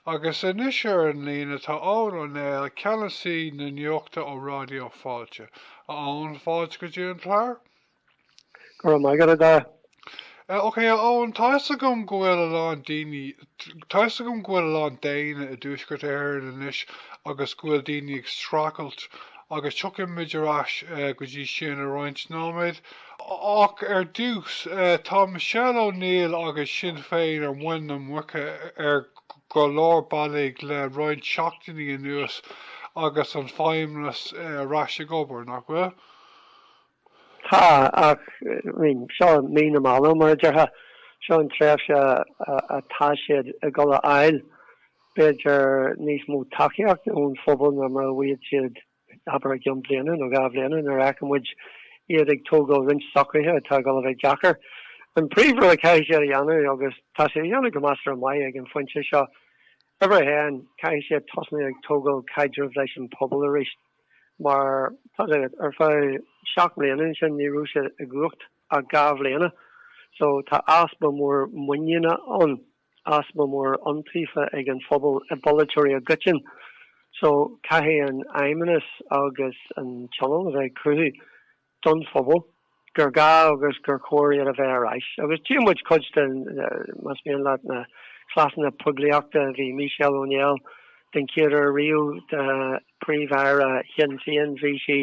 Agus anois ar an líne tá Eoghan Ó Néill, Ceannasaí na Nuachta ó Ráidió Fáilte. A Eoghan, fáilte go dtí an clár. Go raibh maith agat, a Dara. Ok, a Eoghan, tá 'fhios agam go bhfuil a lán daoine, tá 'fhios agam go bhfuil a lán dúshlán i dTuaisceart Éireann anois agus go bhfuil daoine ag streachailt agus tiocfaidh muid ar ais go dtí sin i roinnt nóiméad ach ar dtús tá Michelle O'Neill agus Sinn Féin ar mhuin na muice ar go leor bealaigh le roinnt seachtainí anuas agus an Feidhmeannas ar ais ag obair, nach bhfuil? Tá, ach seo mí na meala mar a déarfá, seo an tréimhse atá siad ag dul a fháil b'fhéidir níos mó tacaíochta ón phobal ná mar a bhíodh siad abair i gceann bliana nó dhá bhliana nuair a fheicfidh muid iad ag tógáil roinnt socruithe atá ag dul a bheith deacair. An príomhrud a caithfidh siad a dhéanamh agus tá siad ag déanamh go measartha maith ag an phointe seo, uimhir a haon, caithfidh siad tosnú ag tógáil caidrimh leis an phobal aríst. Mar tá a fhios agat, ar feadh seacht mblian ansin ní raibh siad i gcumhacht ach dhá bhliana so tá easpa mór muiníne ann, easpa mór iontaofa ag an phobal i bpolaiteoirí i gcoiteann. So caithfidh an fheidhmeannas agus an tionól a bheith ag cruthú don phobal gur gá agus gur chóir iad a bheith ar ais agus tchí muid cuid den más mian leat na cleasanna poiblíochta bhí Michelle O'Neill den chéad uair riamh do príomh-aire Shinn Féin bhí sí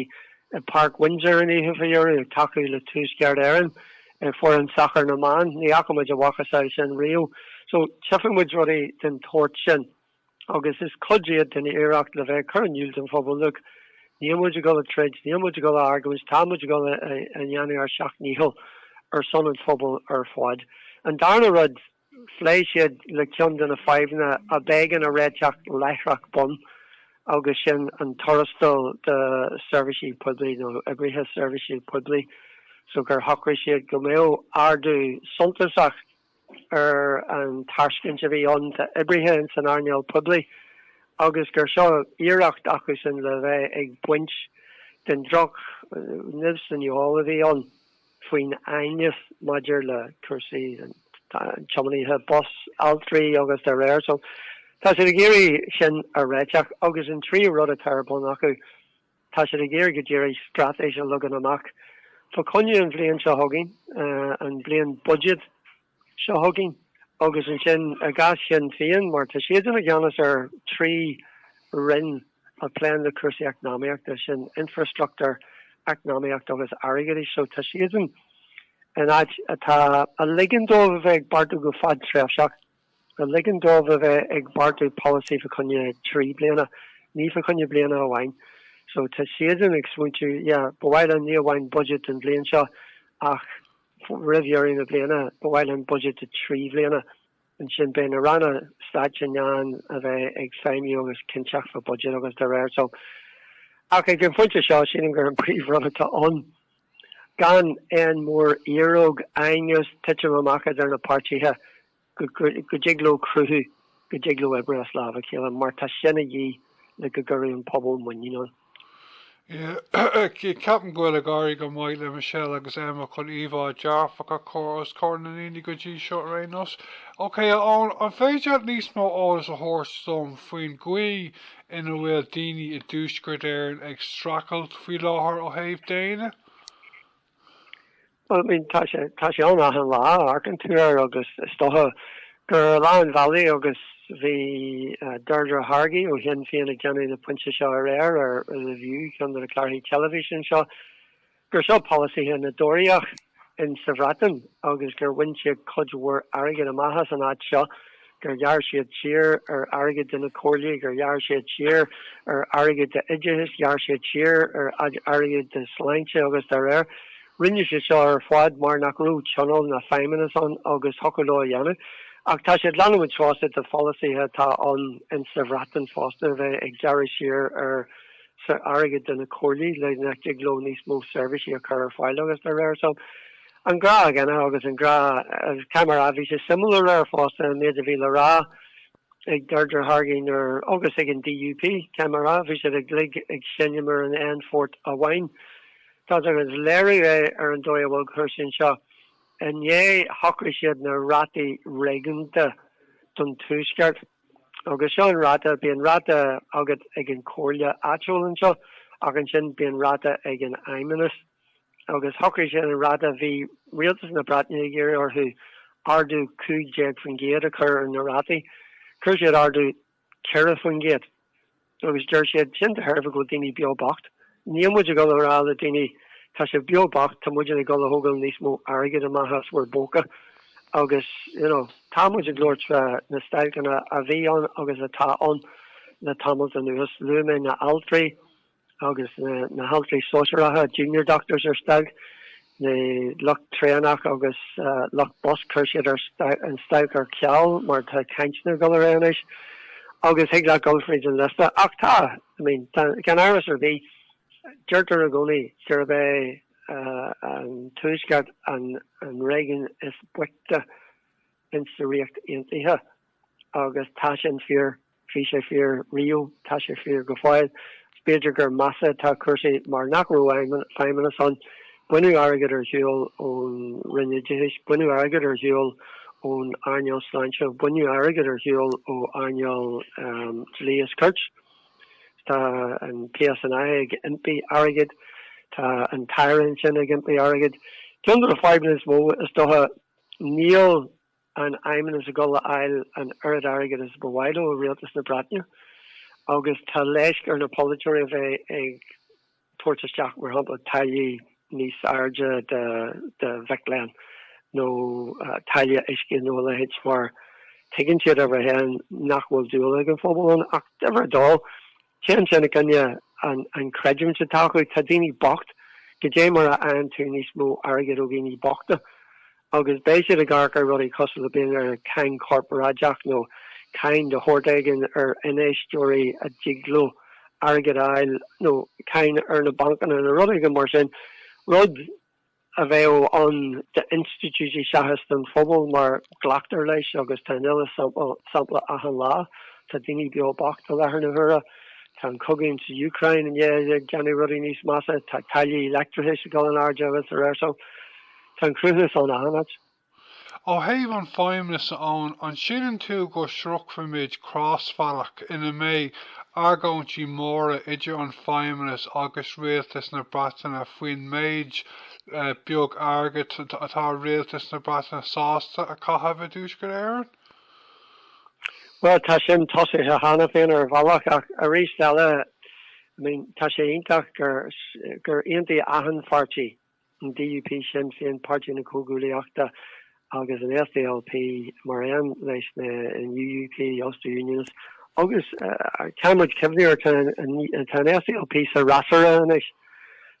i Park Windsor an oíche faoi dheireadh ag tacú le Tuaisceart Éireann ar fhoireann sacair na mban ní fhaca muid a mhacasamhail sin riamh so tchifidh muid rudaí den tsórt sin. agus is cuid iad den iarracht le bheith ag cur in iúl don phobal, look, níl muid ag dul ag troid, níl muid ag dul a argóint, tá muid ag dul a dhéanamh ár seacht ndícheall ar son an phobail ar fad. An darna rud, phléigh siad le ceann de na fadhbanna a b'éigean a réiteach láithreach bonn agus sin an tuarastal do seirbhísigh poiblí nó oibrithe seirbhíse poiblí so gur shocraigh siad go mbeadh ardú suntasach ar an tairscint a bhí ann d'oibrithe san earnáil poiblí agus gur seo iarracht acu sin le bheith ag baint den drochnimh san fheoil a bhí ann faoin aighneas maidir le cúrsaí tiománaithe bus, altraí agus dá réir. So tá siad ag iarraidh sin a réiteach agus an tríú rud atá ar bun acu, Tá siad ag iarraidh go díreach straitéis a leagan amach fá choinne an bhliain seo chugainn, an bliain buiséid seo chugainn agus ansin i gcás Shinn Féin mar tá siadsan i gceannas ar thrí roinn a phléann le cúrsaí eacnamaíochta, sin infreastruchtúr, eacnamaíocht agus airgeadas, so tá siadsan in áit atá ag ligean dóibh a bheith ag beartú go fadtréimhseach. a ligeann dóibh a bheith ag beartú polasaí fá choinne trí bliana, ní fá choinne bliana amháin. So tá siadsan ag smaointiú, yeah, ba mhaith linn ní amháin budget don bhliain seo ach roimh dheireadh na bliana ba mhaith linn budget do trí bhliana. Ansin beidh na ranna stáit in ann a bheith ag feidhmiú agus cinnteacht fá budget agus dá réir. So ach ag an phointe seo sílim gur an príomhrud atá ann, gan aon mhóriaróg aighneas titim amach idir na páirtithe go dtig leo cruthú go dtig leo obair as lámh a chéile mar tá sin a dhíth le go gcuirfidh an pobal muinín ann. Ceapaim go bhfuil ag éirí go maith le Michelle agus Emma chun íomhá dearfach a chur os comhair na ndaoine go dtí seo ar aon nós. Ok a Eoin, an féidir leat níos mó eolais a thabhairt dom faoin gcaoi ina bhfuil daoine i dTuaisceart Éireann ag streachailt faoi láthair ó thaobh déine? Bhuel, I mean, tá sé, tá sé ann achan lá, amharcann tú air agus is dócha gur ar leath an bhealaigh agus bhí Deirdre Hargey ó Shinn Féin ag déanamh an phointe seo aréir ar The View, ceann de na cláirthí teilifíse anseo, gur seo polasaithe na dTóraíoch in sa Bhreatain agus gur bhain siad cuid mhór airgid amach as an áit seo, gur ghearr siad siar ar airgead do na comhairlí, gur ghearr siad siar ar airgead don oideachas, ghearr siad siar ar airgead do shláinte agus dá réir. Rinne siad seo ar fad mar nach raibh tionól ná feidhmeannas ann agus thiocfadh leo a dhéanamh. Ach tá siad ag leanúint fosta de pholasaithe atá ann in sa Bhreatain fosta a bheith ag gearradh siar ar ar airgead do na comhairlí le nach dtig leo níos mó seirbhísí a chur ar fáil agus dá réir so an rud céanna agus an rud cé mar a bhí sé suimiúil aréir fosta an méid a bhí le rá ag Deirdre Hargey nuair agus ag an DUP cé mar a bhí siad uilig ag seinm ar an aon phort amháin tuigeann tú is léiriú é ar an dóigh a bhfuil cúrsaí anseo inné shocraigh siad na rátaí réigiúnta don tuaisceart. Agus seo an ráta, bíonn ráta agat ag an chomhairle áitiúil anseo ach ansin bíonn ráta ag an fheidhmeannas. Agus shocraigh siad an ráta, bhí rialtas na Breataine ag iarraidh orthu ardú 15% a chur ar na rátaí, chuir siad ardú 4%. agus deir siad, sin de thairbhe go bhfuil daoine beo bocht. Níl muid ag dul a rá le daoine, tá sibh beo bocht, tá muidne ag dul a thógáil níos mó airgid amach as bhur bpócaí agus, you know, tá muid ag labhairt fá na stailceanna a bhí ann agus atá ann le tamalt anuas. Luaigh mé na altraí agus na haltraí sóisearacha, junior doctors ar stailc, na lucht traenach agus lucht bus chuir siad an stailc ar ceal mar tá cainteanna ag dul ar aghaidh anois agus thig leat dul fríd an liosta ach tá I mean tá gan amhras ar bith deirtear i gcónaí gurb é an tuaisceart an an réigiún is boichte in sa Ríocht Aontaithe agus tá sin fíor Bhí sé fíor riamh, tá sé fíor go fóill. B'fhéidir gur measa atá cúrsaí mar nach raibh feidhmeannas ann. Baineadh airgead ar shiúl ón Roinn Oideachais, baineadh airgead ar shiúl ón earnáil sláinte, baineadh airgead ar shiúl ó earnáil dlí is cirt. Tá an PSNI ag impí airgid, tá an tAire sin ag impí airgid. Ceann de na fadhbanna is mó, is dócha, níl. an Feidhmeannas ag dul a fháil an oiread airgid is ba mhaith leo ó Rialtas na Breataine agus tá leisc ar na polaiteoirí a bheith ag tabhairt isteach, mar shampla, táillí níos airde do mhic léinn nó táille uisce nó a leithéid mar tuigeann siad, ní amháin nach bhfuil dúil ag an phobal ann ach, ach ab é dó, Téann sin i gcoinne an chreidiúint atá acu. Tá daoine bocht. Goidé mar a fhaigheann tú níos mó airgid ó dhaoine bochta? Agus beidh siad ag amharc ar rudaí cosúil le b'fhéidir ar cháin chorparáideach nó cáin de shórt éigin ar infheisteoirí a dtig leo airgead a fháil nó cáin ar na bancanna nó rud éigin mar sin. Rud. a bheadh ann d'institiúidí seachas don phobal mar glactar leis agus tá an uile sampla achan lá, tá daoine beo bocht i láthair na huaire, tá an cogadh san Úcráin i ndiaidh déanamh rudaí níos measa, tá táillí leictreachais ag dul in airde agus araile so. Tá an cruthúnas ann achan áit. Ó thaobh an fheidhmeannais, a Eoin, an síleann tú go sroichfimid crosbhealach ina mbeidh argóintí móra idir an feidhmeannas agus Rialtas na Breataine faoin méid beag airgid atá Rialtas na Breataine sásta a chaitheamh i dTuaisceart Éireann? Bhuel, tá sin tosaithe cheana féin ar bhealach, ach arís eile, I mean, tá sé iontach gur aontaigh achan pháirtí an DUP, Sinn Féin, Páirtí na Comhghuaillíochta agus an SDLP mar aon leis an UUP, Ulster Unionist agus caithfidh muid cuimhniú air tá an SDLP sa fhreasúra anois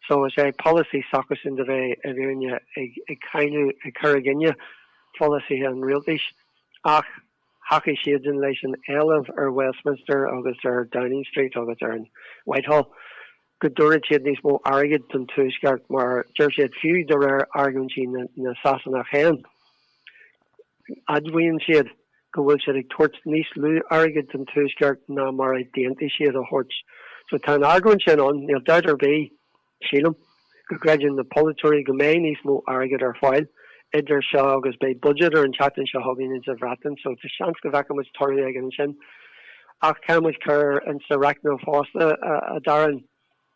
so is é polasaí s'acusan a bheith i bhfírinne ag ag cáineadh ag cur i gcinne pholasaithe an rialtais ach thacaigh siadsan leis an éileamh ar Westminster agus ar Downing Street agus ar an Whitehall go dtabharfad siad níos mó airgid don Tuaisceart mar deir siad, fiú de réir argóintí na Sasanach féin, admhaíonn siad, go bhfuil siad ag tabhairt níos lú airgid don Tuaisceart ná mar a d'aontaigh siad a thabhairt. So tá an argóint sin ann. Níl dabht ar bith, sílim, go gcreideann na polaiteoirí go mbeidh níos mó airgid ar fáil idir seo agus beidh budget ar an tseachtain seo chugainn ins an Bhreatain so tá seans go bhfeicfimid toradh éigin ansin. Ach caithfidh muid cur insa reicneáil fosta, a Darren,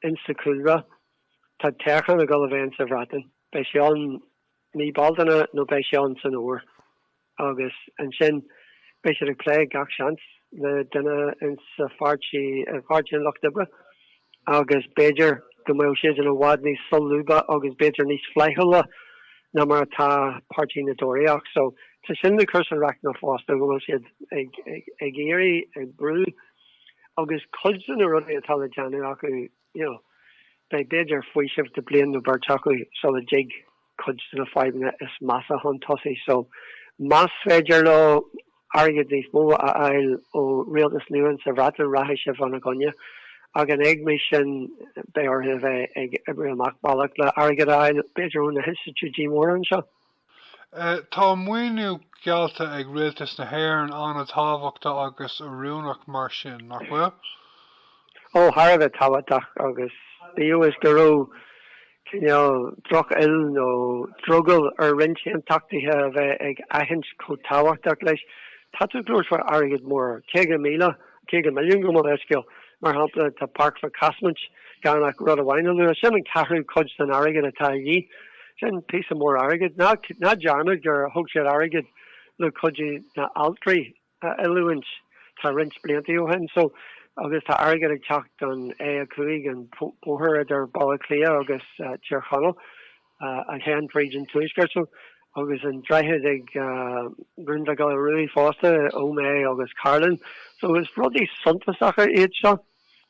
insa chúlra, tá toghchán ag dul a bheith insa Bhreatain. Beidh sé ann mí Bealtaine nó beidh sé ann san Fhómhar agus ansin beidh siad ag plé gach seans le duine insa pháirtí, i bpáirtí an Lucht Oibre. agus b'fhéidir go mbeadh siad ina bhfad níos solúbtha agus b'fhéidir níos flaithiúla ná mar atá Páirtí na dTóraíoch. So tá sin ag cur san reicneáil fosta go bhfuil siad ag ag iarraidh ag brú agus cuid de na rudaí atá le déanamh acu, you know, beidh b'fhéidir faoiseamh de bhliain nó beirt acu sula dtig. cuid de na fadhbanna is measa chun tosaigh so más féidir leo airgead níos mó a fháil ó rialtas nua sa Bhreatain rachaidh sin ina gcoinne. Ach in éagmais sin beidh orthu a bheith ag oibriú amach bealach le airgead a fháil, b'fhéidir ó na hinstitiúidí móra anseo. Tá maoiniú geallta ag rialtas na hÉireann an-tábhachtach agus oiriúnach mar sin, nach bhfuil? Ó, thar a bheith tábhachtach agus bíodh is go raibh cineál drochfhuil nó drogall ar roinnt aontachtaithe a bheith ag aithint chomh tábhachtach leis, tá tú ag labhairt faoi airgead mór, 50,000, 50 milliún gabh mo leithscéal, mar shampla, do Pháirc Casement gan ach rud amháin a lua, sin an ceathrú cuid den airgead atá de dhíth. Sin píosa mór airgid. Ná dearmad gur thug siad airgead le cuid de na altraí. a oiliúint tá roinnt bliantaí ó shin so agus tá airgead ag teacht don A5 an bóthar idir Baile Átha Cliath agus Tír Chonaill a théann fríd an tuaisceart so agus an droichead ag Rinn Mhic Giolla Rua fosta Ó Méith agus Cairlinn so is rudaí suntasacha iad seo.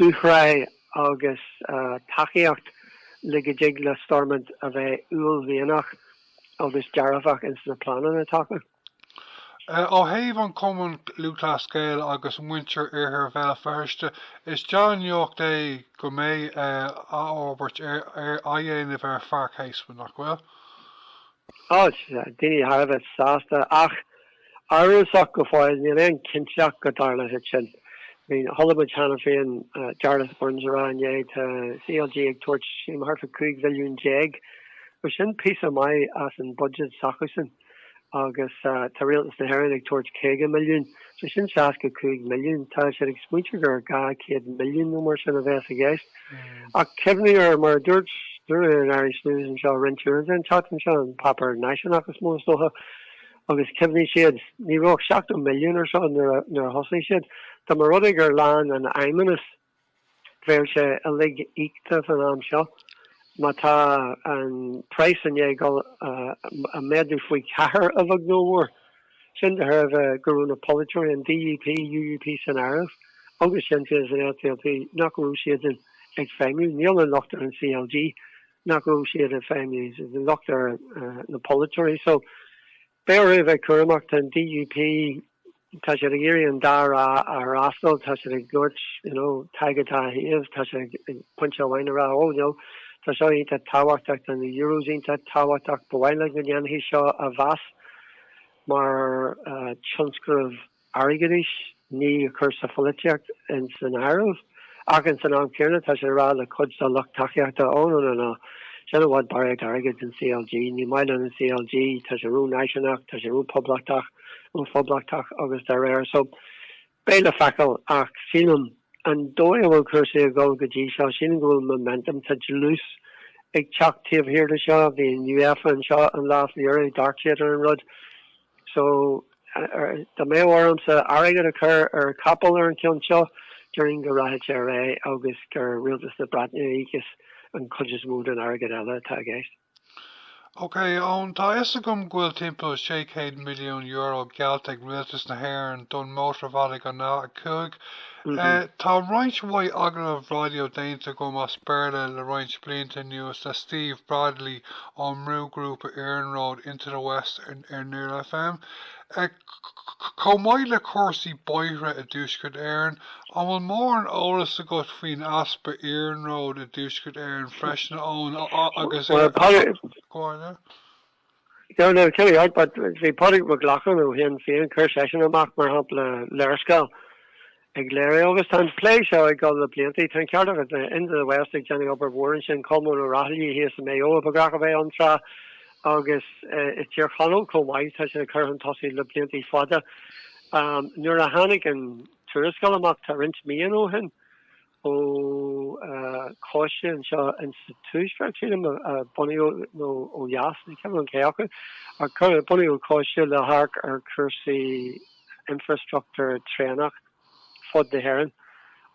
dúshraith agus tacaíocht le go dtig le Stormont a bheith uaillmhianach agus dearfach ins na pleananna atá acu. Ó thaobh an Cumann Lúthchleas Gael agus muintir Iarthar Bhéal Feirste, is dea-nuaíocht é go mbeidh athfhorbairt á dhéanamh ar Pháirc Casement, nach bhfuil? Beidh daoine thar a bheith sásta ach amhrasach go fóill, níl aon chinnteacht ann go dtarlóidh sin. Chuala muid cheana féin Jarlath Burns ag rá inné tá CLG ag tabhairt suim thart fá 15 mhilliún, bhuel sin píosa maith as an budget s'acusan agus tá Rialtas na hÉireann ag tabhairt 50 milliún, so sin 65 milliún, tá siad ag smaointeadh gur 200 milliún nó mar sin a bheas i gceist. Ach cuimhnigh ar mar a dúirt duine in Irish News anseo roinnt uaireanta an tseachtain seo, an páipéar náisiúnach is mó is dócha, agus cuimhnigh, ní raibh ach 70 milliún ar seo nuair a thosaigh siad. Dá mba rud é gur lean an Feidhmeannas, bheadh sé uilig íoctha fán am seo. Má tá an price i ndiaidh dul, méadú faoi ceathair, a bheag nó a mhór. sin de thairbhe go raibh na polaiteoirí, an DUP, UUP san áireamh, agus Sinn Féin, an SDLP, nach raibh siadsan ag feidhmiú. Níl an locht ar an CLG nach raibh siad ag feidhmiú, tá an locht ar na polaiteoirí. So, beidh orthu a bheith cúramach. Tá an DUP, tá siad ag iarraidh an dá thrá a fhreastal, tá siad ag labhairt, you know, Tadhg an dá thaobh, tá siad ag pointe amháin ag rá, oh no, tá seo iontach tábhachtach, tá na Euros iontach tábhachtach, ba mhaith linn go ndéanfaí seo a mheas. Mar tionscnamh airgeadais, ní ag cur na polaitíocht insan áireamh, ach insan am céanna tá sé ag rá le cuid dá lucht tacaíochta, oh no no no, sin i bhfad barraíocht airgid don CLG, ní maith linn an CLG, tá sé ró-náisiúnach, tá sé ró-poblachtach, ró-phoblachtach agus dá réir. So. Beidh le feiceáil, ach sílim, an dóigh a bhfuil cúrsaí ag dul go dtí seo, sílim go bhfuil momentum, tá dlús ag teacht taobh thiar de seo, bhí UEFA anseo an lá fá dheireadh, d'amharc siad ar an rud. So, dá mbeadh ormsa airgead a chur ar chapall ar an chionn seo, déarfainn go rachaidh sé ar aghaidh agus gur Rialtas na Breataine a íocfas an chuid is mó den airgead eile atá i gceist. OK, Eoin, tá a fhios agam go bhfuil timpeall €600 milliún geallta ag Rialtas na hÉireann don mhótarbhealach an A5. Tá roinnt mhaith agallaimh raidió déanta agam as Béarla le roinnt blianta anuas le Steve Bradley ón mbrúghrúpa iarnróid Into the West ar Near FM. Chomh maith le cúrsaí bóithre i dTuaisceart Éireann, an bhfuil mórán eolas agat faoin easpa iarnróid i dTuaisceart Éireann freisin, a Eoin, agus bhí Pádraig Mac Lochlainn ó Shinn Féin, chuir seisean amach, mar shampla, léarscáil. ag léiriú agus tá an plé seo ag dul le blianta. Tá an ceart agat, Into the West ag déanamh obair mhór ansin, Colmán Ó Raghallaigh thíos i Maigh Eo ba ghnách a bheith ann tráth agus i dTír Chonaill chomh maith, tá sé á chur chun tosaigh le blianta fada. Nuair a tháinig an tuarascáil amach tá roinnt míonna ó shin, ó choiste anseo in sa Tuaisceart, sílim, a bunaíodh, nó ó dheas, ní cuimhin liom cé acu, ach cuireadh, bunaíodh Coiste le hamharc ar chúrsaí infreastruchtúr traenach fud na hÉireann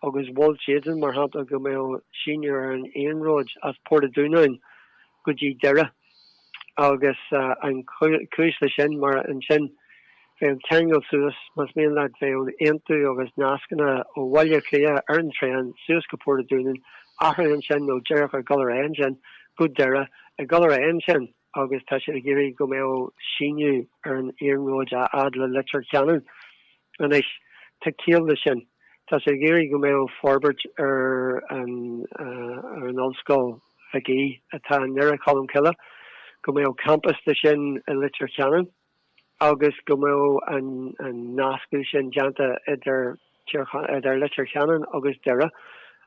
agus mhol siadsan, mar shampla, go mbeadh síneadh ar an iarnróid as Port an Dúnáin go dtí Doire agus an chúis le sin mar ansin bheadh an ceangal suas más mian leat bheadh an aontú agus nascanna ó Bhaile Cliath ar an traein suas go Port an Dúnáin athraigh ansin nó díreach ag gol ar aghaidh ansin go Doire ag gol ar aghaidh ansin agus tá siad ag iarraidh go mbeadh síneadh ar an iarnróid a fhad le Leitir Ceanainn Anois, tá ciall le sin. Tá sé ag iarraidh go mbeadh forbairt ar an ar an Ollscoil Mhig Aoidh atá i nDoire Cholm Cille, go mbeadh campas de sin i Leitir Ceanainn agus go mbeadh an an nascadh sin déanta idir Leitir Ceanainn agus Doire.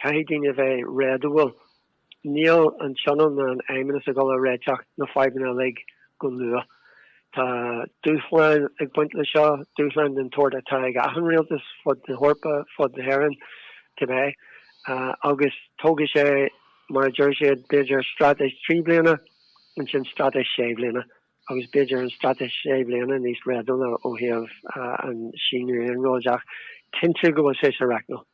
Caithfidh daoine a bheith réadúil. Níl an Tionól ná an Fheidhmeannas ag dul a réiteach na fadhbanna uilig go luath. Tá dúshláin ag baint le seo, dúshláin den tsórt atá ag achan rialtas fud na hEorpa, fud na hÉireann, cibé. Agus tógfaidh sé, mar a deir siad, b'fhéidir straitéis trí bliana, ansin straitéis sé bliana, agus b'fhéidir an straitéis sé bliana níos réadúla ó thaobh an síneadh iarnróid ach cinntiú go bhfuil sé sa reicneáil.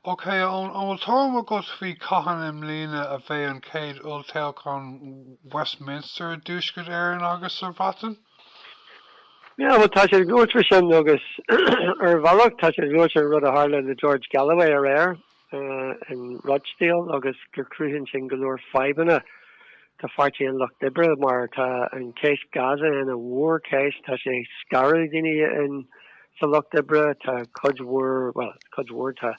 Ok Eoin, an bhfuil tuairim agat faoi cathain i mbliana a bheidh an chéad olltoghchán Westminster i dTuaisceart Éireann agus sa Bhreatain? Yeah, bhuel tá sé luaite faoi sin agus ar bhealach tá sé luaite an rud a tharla le George Galloway aréir in Rochdale agus gur chruthaigh sin go leor fadhbanna do Pháirtí an Lucht Oibre mar tá an cheist Gaza ina mhórcheist. Tá sé ag scaradh daoine sa Lucht Oibre. Tá cuid mhór, bhuel, cuid mhór, tá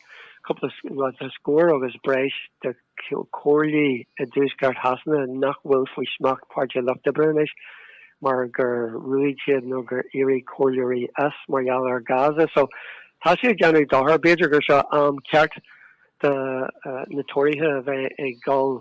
cúpla, bhuel, tá scór agus breis de chomhairlí i dTuaisceart Shasana nach bhfuil faoi smacht Páirtí an Lucht Oibre anois mar gur ruaigeadh iad nó gur éirigh comhairleoirí as mar gheall ar Gaza. So, tá sé ag déanamh dochar. B'fhéidir gur seo am ceart do na Tóraithe a bheith ag dul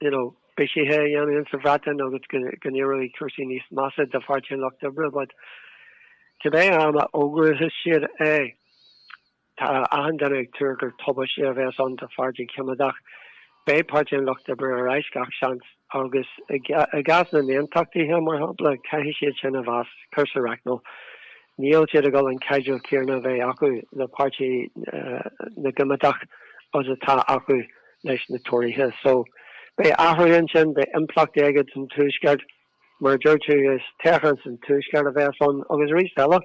you know, bithithe a dhéanamh ins an Bhreatain agus go n-éireoidh cúrsaí níos measa do Pháirtí an Lucht Oibre but cibé am a fhógrós siad é tá achan duine ag tuar gur tubaiste a bheas ann don Pháirtí Coimeádach. Beidh Páirtí an Lucht Oibre ar ais gach seans agus i gcás na n-aontachtaithe mar shampla caithfidh siad sin a mheas a chur sa reicneáil níl siad ag dul an caidreamh céarna a bheith acu le Páirtí na gCoimeádach agus atá acu. leis na Tóraithe so beidh athrú ansin, beidh impleachtaí aige don Tuaisceart. Mar a deir tú, is toghchán san Tuaisceart a bheas ann agus arís eile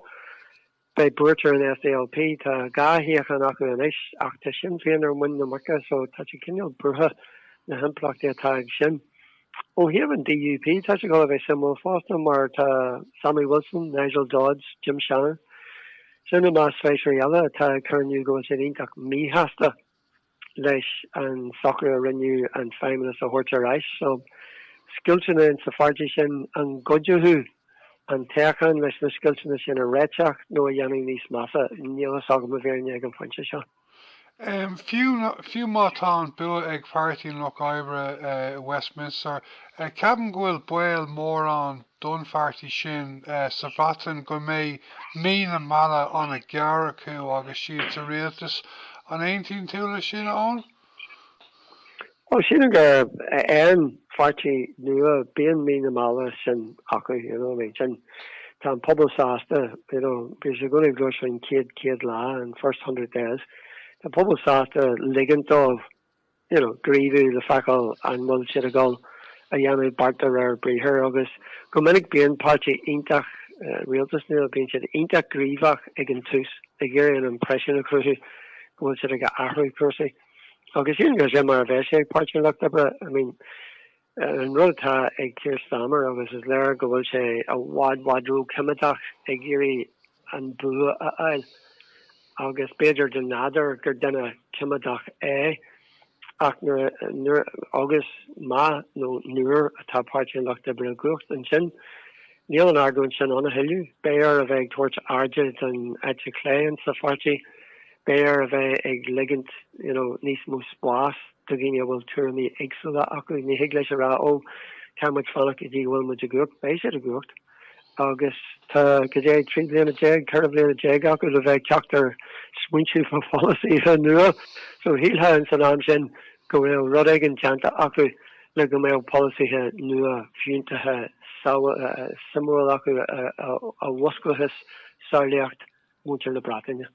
beidh buairt ar an SDLP, tá dhá shuíochán acu anois ach tá Sinn Féin ar mhuin na muice so tá siad cineál buartha, na himpleachtaí atá ag sin. Ó thaobh an DUP tá sé ag dul a bheith suimiúil fosta mar tá Sammy Wilson, Nigel Dodds, Jim Shannon, sin i measc feisirí eile atá ag cur in iúl go bhfuil siad iontach míshásta. leis an socrú a rinneadh an Feidhmeannas a thabhairt ar ais. So scoilteanna in sa pháirtí sin, an gcuideoidh an toghchán leis na scoilteanna sin a réiteach nó a dhéanamh níos measa? Níl fhios agam i bhfírinne ag an phointe seo. Fiú, fiú má tá an bua ag Páirtí an Lucht Oibre i Westminster, ceapaim go bhfuil baol mór ann don pháirtí sin sa Bhreatain go mbeidh mí na meala ana gearr acu agus iad sa rialtas. An aontaíonn tú le sin, Eoin? Bhuel, sílim gur aon pháirtí nua bíonn mí na meala sin acu, you know, I mean, sin, tá an pobal sásta, you know, bíonn sé go háirithe sa chéad chéad lá, an first hundred days, tá pobal sásta ligint dóibh, gníomhú le feiceáil an bhfuil siad ag dul a dhéanamh beart de réir briathair agus go minic bíonn páirtí iontach rialtas nua, bíonn siad iontach gníomhach ag an tús ag iarraidh an impreisiún a chruthú go bhfuil siad ag athrú cúrsaí agus sin, go deimhin, mar a bheidh sé ag Páirtí an Lucht Oibre. I mean. An rud atá ag Keir Starmer agus is léir go bhfuil sé i bhfad i bhfad róchoimeádach ag iarraidh an bua a fháil agus b'fhéidir de nádar gur duine coimeádach é ach nuair nuair agus má nó nuair atá Páirtí an Lucht Oibre i gcumhacht ansin níl an argóint sin ann a thuilleadh. Beidh air a bheith ag tabhairt airde don eite chlé insa pháirtí Beidh air a bheith ag ligint you know níos mó spás do dhaoine a bhfuil tuairimí éagsúla acu. Ní thig leis a rá ó tá muid, fanaigí go dtí go bhfuil muid i gcumhacht, beidh siad i gcumhacht agus tá, caidé, trí bliana déag, ceithre bliana déag acu le bheith ag teacht ar smaointí fá pholasaithe nua. So shílfeá in san am sin go bhfuil rud éigin déanta acu le go mbeadh polasaithe nua fiúntacha suimiúla acu a mhúsclós samhlaíocht mhuintir na Breataine.